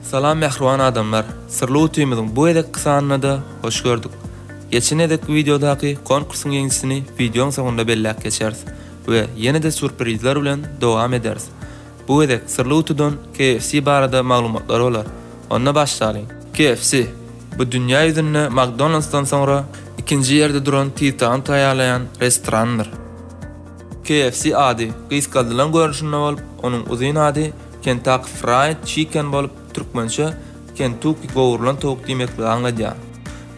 Salam mähriban adamlar. Syrly utymyzyň bu gezekki sanynada hoş gördük. Geçen gezekki wideodaky konkursyň ýeňijisini wideoň soňunda belläp geçeris we ýene-de surprizler bilen dowam ederis. Bu gezek Syrly gutudan KFC barada maglumatlar bolar. Onda başlalyň. KFC, bu dünýä ýüzünde McDonald's-dan soňra ikinji ýerde duran titany taýýarlaýan restorandyr. KFC ady gysgaldylan görnüşinde bolup, onuň uzyn ady Kentucky Fried Chicken bolup, Türkmençe, Kentuki gowrulan towuk diýmekligi aňladýar.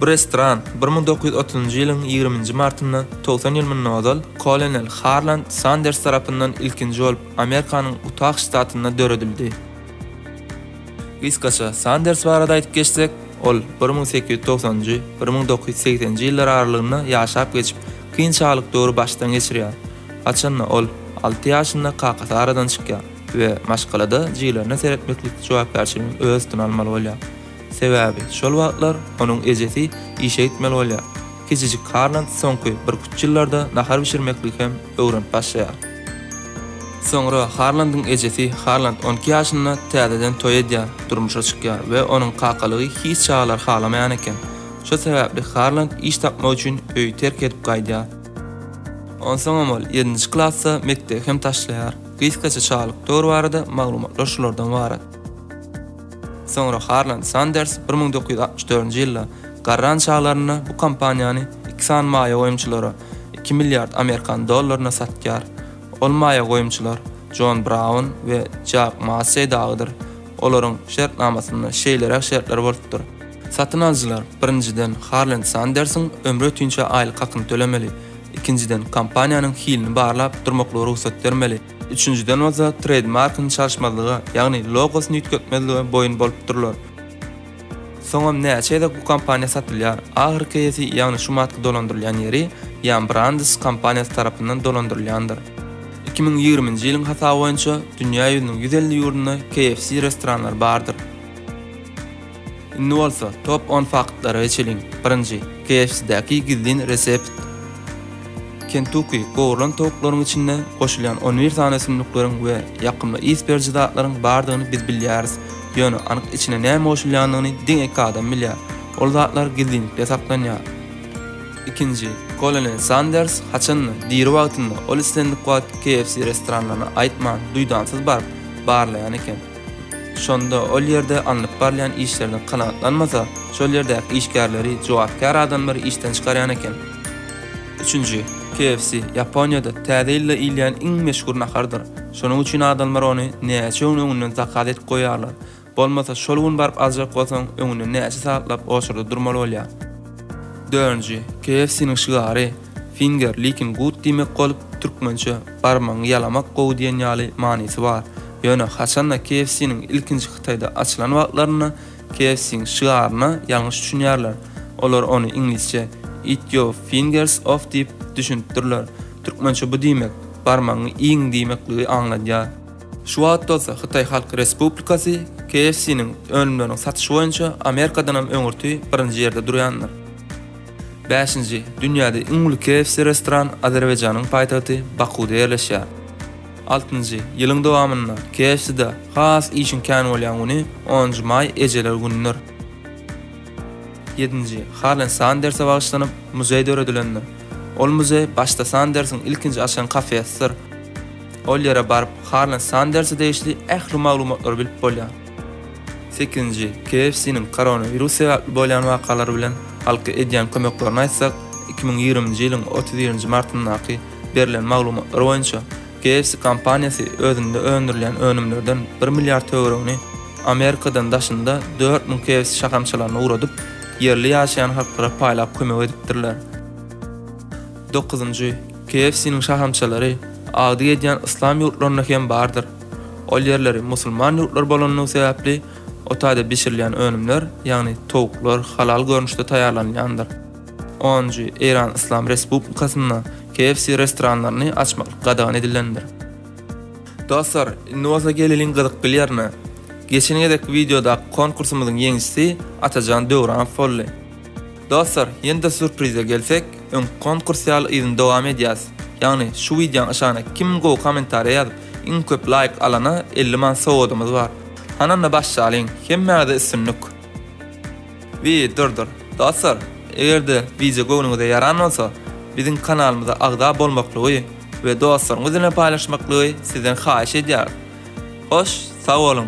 Bu restoran bir müň dokuz ýüz otuzynjy ýylyň ýigriminji martynda, togsan ýyl mundan ozal, kolonel Harland Sanders tarapyndan ilkinji bolup Amerikanyň Utah ştatynda döredildi. Gysgaça Sanders barada aýdyp geçsek, ol bir müň sekiz ýüz togsanjy, bir müň dokuz ýüz segsenji ýyllar aralygynda ýaşap geçip, kyn çagalyk döwri başdan geçirýär. Haçanda ol alty ýaşynda kakasy aradan çykýar. we maşgalada jiglerine seretmeklik jogapkärçiligini öz üstüne almaly bolýar. Sebäbi şol wagtlar onuň ejesi işe gitmeli bolýar. Kiçijik Karnant soňky birküç ýyllarda nahar bişirmekligi hem öwrenip başlaýar. Soňra Harlandyň ejesi Harland on iki ýaşynda täzeden toý edýär, durmuşa çykýar we onuň kakalygy hiç çagalar halamaýan eken. Şo sebäpli Harland iş tapmak üçin öýi terk edip gaýdýar. Onsoňam ol ýedinji klasda mekdebi hem taşlaýar. Gysgaça çalyk döwri barada maglumatlar şulardan ybarat. Soňra Harland Sanders bir müň dokuz ýüz altmyş dördünji ýylda garran çaglarynda bu kompaniýany iki sany maýa goýumçylara iki milliard amerikan dollaryna satýar. Ol maýa goýumçylar Jon Braun we Jack Massey dagydyr. Olaryň şertnamasynda şeýleräk şertler bolupdyr. Satyn alyjylar, birinjiden, Harland Sandersiň ömre ötinçä aýlyk hakyny tölemeli, ikinjiden, kompaniýanyň hilini barlap durmaklyga rugsat bermeli, üçünjiden bolsa treýdmarkyny çalyşmazlyga, ýagny logosyny üýtgetmezlige boýun bolupdyrlar. Soňam näçe gezek bu kompaniýa satylýar, ahyrky eýesi, ýagny şumatky dolandyrylýan ýeri Ýan Brandes kompaniýasy tarapyndan dolandyrylýandyr. Iki müň ýigriminji ýylyň hasaby boýunça dünýä ýüzüniň ýüz elli ýurdunda KFC restoranlary bardyr. Indi bolsa top on faktlara geçeliň. Birinji, KFC-däki gizlin resept. Kentuki gowrulan towuklaryň içinde goşulýan on bir sany ösümlikleriň we ýakymly ys beriji zatlaryň bardygyny biz bilýäris. Ýöne anyk içine näme goşulýandygyny diňe iki adam bilýär. Ol zatlar gizlinlikde saklanýar. Ikinji, Kolonel Sanders haçanda, diri wagtynda, ol islendik wagt KFC restoranlaryna aýtman, duýdansyz baryp, barlaýan eken. Şonda ol ýerde alnyp barylýan işlerden kanagatlanmasa, şol ýerdäki işgärleri jogapkär adamlary işden çykarýan eken. Üçünji, KFC, Ýaponiýada Täze ýylda iýilýän iň meşhur nahardyr. Şonuň üçin adamlar ony näçe gün öňünden zakaz edip goýýarlar. Bolmasa şol gün baryp aljak bolsaň, öňünden näçe sagatlap oçurda durmaly bolýar. Dördünji, KFC-niň şygary, Finger licking good diýmek bolup, türkmençe barmagyňy ýalamak gowy diýen ýaly manysy bar. Ýöne haçan-da KFC-niň ilkinji Hytaýda açylan wagtlarynda KFC-iň şygaryna ýalňyş düşünýärler. Olar ony iňlisçe Eat your fingers off diýip düşünipdirler. Türkmençe bu diýmek, barmagyňy iýiň diýmekligi aňladýar. Şu wagt bolsa Hytaý Halk Respublikasy KFC-niň önümleriniň satyşy boýunça Amerikadanam öňürti birinji ýerde durýandyr. Bäşinji, dünýäde iň uly KFC restoran Azerbaýjanyň paýtagty Bakuda ýerleşýär. Altynjy, ýylyň dowamynda KFC-de has işiň kän bolýan güni onunjy maý ejeler günüdir. Ýedinji, Harlen Sanderse bagyşlanyp, muzeý döredilendir. Ol muzeý başda Sandersiň ilkinji açan kafesidir. Ol ýere baryp, Harlen Sanderse degişli ähli maglumatlary bilip bolýar. Sekizinji, KFC-niň koronawirus sebäpli bolýan wakalary bilen halka edýän kömeklerini aýtsak, iki müň ýigriminji ýylyň otuz birinji martyndaky berlen maglumatlar boýunça, KFC kompaniýasy özünde öndürilýän önümlerden bir milliard töweregini Amerikadan daşynda dört müň KFC şahamçalaryna ugradyp, ýerli ýaşaýan halklara paýlap kömek edipdirler. Dokuzynjy, KFC-niň şahamçalary agdyk edýän yslam ýurtlarynda hem bardyr. Ol ýerleri musulman ýurtlary bolandygy sebäpli, o taýda bişirilýän önümler, ýagny towuklar halal görnüşde taýýarlanylýandyr. Onunjy, Eýran Yslam Respublikasynda KFC restoranlaryny açmaklyk gadagan edilendir. Dostlar, indi bolsa geleliň gyzykly ýerine. Geçen gezekki wideodaky konkursymyzyň ýeňijisi Atajan Döwranow boldy. Dostlar, ýene-de surprize gelsek, öňki konkurs ýaly yzyny dowam edýäs. Ýagny, şu wideoň aşagyna kim gowy kommentariýa ýazyp, Iň köp laýk alana elli manat sowgadymyz bar. Hany onda başlalyň. Hemmäňize üstünlik. Wi dur dur. Dostlar egerde wideo göwnüňize ýaran bolsa biziň kanalymyza agza bolmaklygy we dostlaryňyz bilen paýlaşmaklygy sizden haýyş edýäris. Hoş sag boluň.